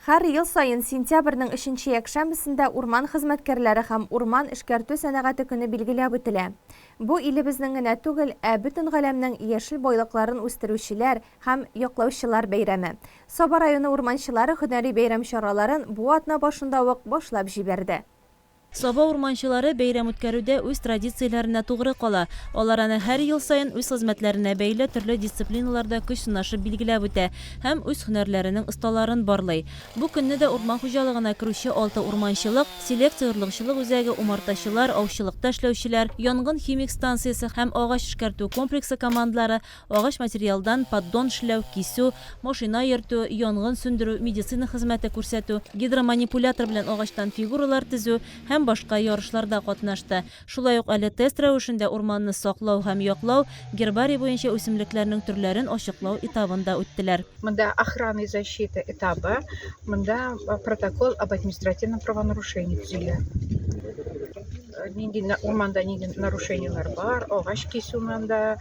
Һәр ел саен сентябрьнең өченче якшәмбесендә урман хезмәткәрләре һәм урман эшкәртү сәнәгате көне билгеләп үтелә. Бу илебезнең генә түгел, ә бөтен галәмнең яшел байлыкларын үстерүчеләр һәм яклаучылар бәйрәме. Саба районы урманчылары һөнәри бәйрәм чараларын бу атна башында ук башлап җибәрде. Саба урманчылары бәйрәм үткәрүдә үз традицияләренә тугры кала. Алар аны һәр ел саен үз хезмәтләренә бәйле төрле дисциплиналарда көч сынашып билгеләп үтә һәм үз һөнәрләренең осталарын барлый. Бу көнне дә урман хуҗалыгына керүче алты урманчылык, селекция-орлыкчылык үзәге, умартачылар, аучылыкта эшләүчеләр, янгын-химик станциясе һәм агач эшкәртү комплексы командалары Агач материалдан поддон эшләү, кисү, машина йөртү, янгын сүндерү, медицина хезмәте күрсәтү, гидроманипулятор белән агачтан фигуралар төзү һәм башка ярышларда катнашты. Шулай ук әле тест рәвешендә урманны саклау һәм яклау, гербарий буенча үсемлекләрнең төрләрен ачыклау этабын да үттеләр. Монда охрана и защита этабы, монда протокол об административном правонарушении төзелә. Нинди урманда нинди нарушениеләр бар, агач кисү монда,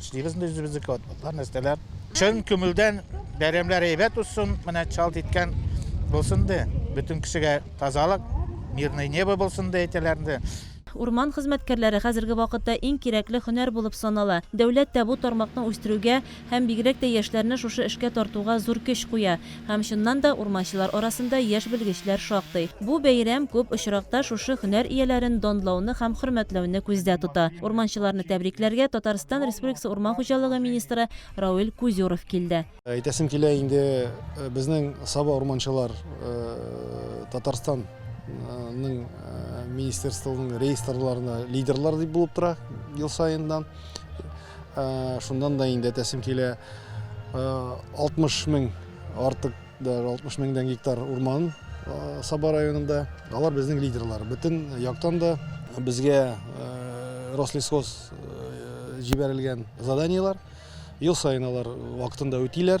Эшлибез без үзебезнеке атлар, нәрсәләр. Чын күңелдән бәйрәмнәр әйбәт узсын, менә чалт иткән булсын ди. Бөтен кешегә тазалык, мирное небо булсын ди әйтәләр инде. Урман хезмәткәрләре хәзерге вакытта иң кирәкле һөнәр булып санала. Дәүләт тә бу тармакны үстерүгә һәм бигрәк тә яшьләрне шушы эшкә тартуга зур көч куя. Һәм чыннан да урманчылар арасында яшь белгечләр шактый. Бу бәйрәм күп очракта шушы һөнәр ияләрен данлауны һәм хөрмәтләүне күздә тота. Урманчыларны тәбрикләргә Татарстан Республикасы урман хуҗалыгы министры Рауль Кузюров килде. Әйтәсем килә инде, безнең Саба урманчылар Татарстан ның министерствоның реестрларына лидерлар дип булып тора ел саеннан. Шундан да инде әтәсем килә. 60 мең артык, даже 60 меңдән гектар урман Саба районында. Алар безнең лидерлар. Бөтен яктан да безгә Рослесхоз җибәрелгән заданиелар. Ел саен алар вакытында үтиләр.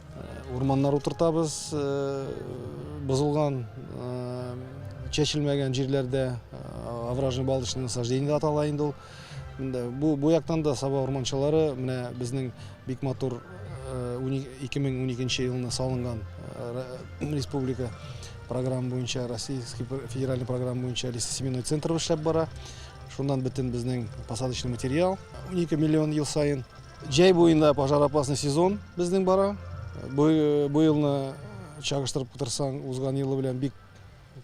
Урманнар утыртабыз, бозылган, чәчелмәгән җирләрдә овражный балочный насаждение дип атала инде ул. Бу бу яктан да Саба урманчылары менә безнең бик матур 2012 елны салынган республика программа буенча, российский федеральный программа буенча лесосеменной центр эшләп бара. Шуннан бөтен безнең посадочный материал 12 миллион ел саен Җәй буенда пожар опасный сезон безнең бара. Бу елны чагыштырып кытырсаң, узган елы белән бик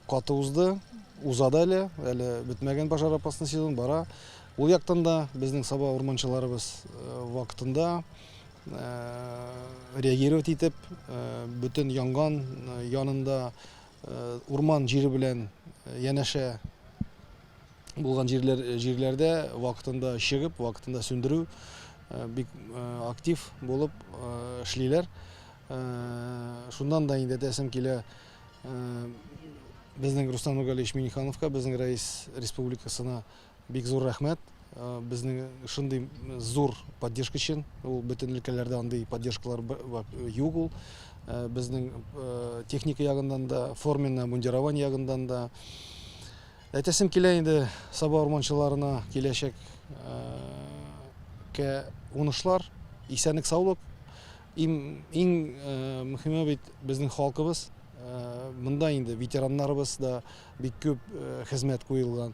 каты узды. Уза да әле, әле бетмәгән пожар опасный сезон бара. Ул яктан да безнең саба урманчыларыбыз э, вакытында э, реагировать итеп, э, бөтен янган янында урман җире белән янәшә булган җирләр җирләрдә вакытында чыгып, вакытында сүндерү бик актив булып эшлиләр. Шуннан да инде тәсем килә безнең Рустам Нургалиевич Минихановка, безнең рәис республикасына бик зур рәхмәт. Безнең шундый зур поддержка өчен, ул бөтен өлкәләрдә андый поддержкалар юк ул. Безнең техника ягыннан да, форменное мундирование ягыннан да, Әйтәсем килә инде Саба урманчыларына киләчәк кә унышлар, исәнлек саулык. Им, иң мөхиме бит безнең халкыбыз. Монда инде ветераннарыбыз да бик күп хезмәт куелган.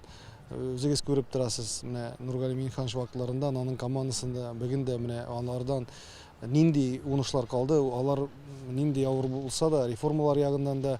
Үзегез күреп торасыз, менә Нургали Минханович вакытларында аның командасында бүген дә менә алардан нинди унышлар калды, алар нинди авыр булса да реформалар ягыннан да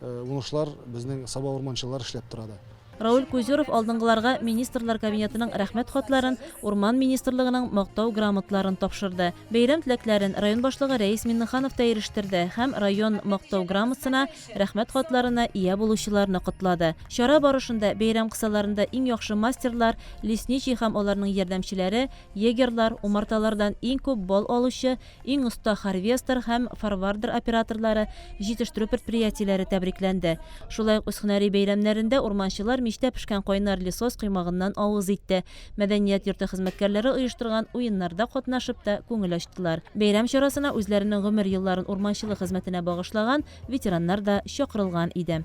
Уңышлар безнең Саба урманчылар эшләп тора да. Рауль Кузеров алдынгыларга Министрлар Кабинетының Рәхмәт хатларын, Урман министрлыгының Мактау грамотларын тапшырды. Бәйрәм теләкләрен район башлыгы Рәис Миннеханов та ирештертде һәм район Мактау грамотсына, Рәхмәт хатларына ия булучыларны котлады. Чара барышында бәйрәм кысаларында иң яхшы мастерлар, лесничий һәм аларның ярдәмчеләре, егерьлар, умарталардан иң күп балл алучы, Иң оста харвестор һәм форвардер операторлары, җитештерү предприятиеләре тәбрикләнде. Шулай ук үз һөнәри бәйрәмнәрендә урманчылар мичтә пешкән кайнар лесос коймагыннан авыз итте, мәдәният йорты хезмәткәрләре оештырган уеннарда катнашып та күңел ачтылар. Бәйрәм чарасына үзләренең гомер елларын урманчылык хезмәтенә багышлаган ветераннар да чакырылган иде.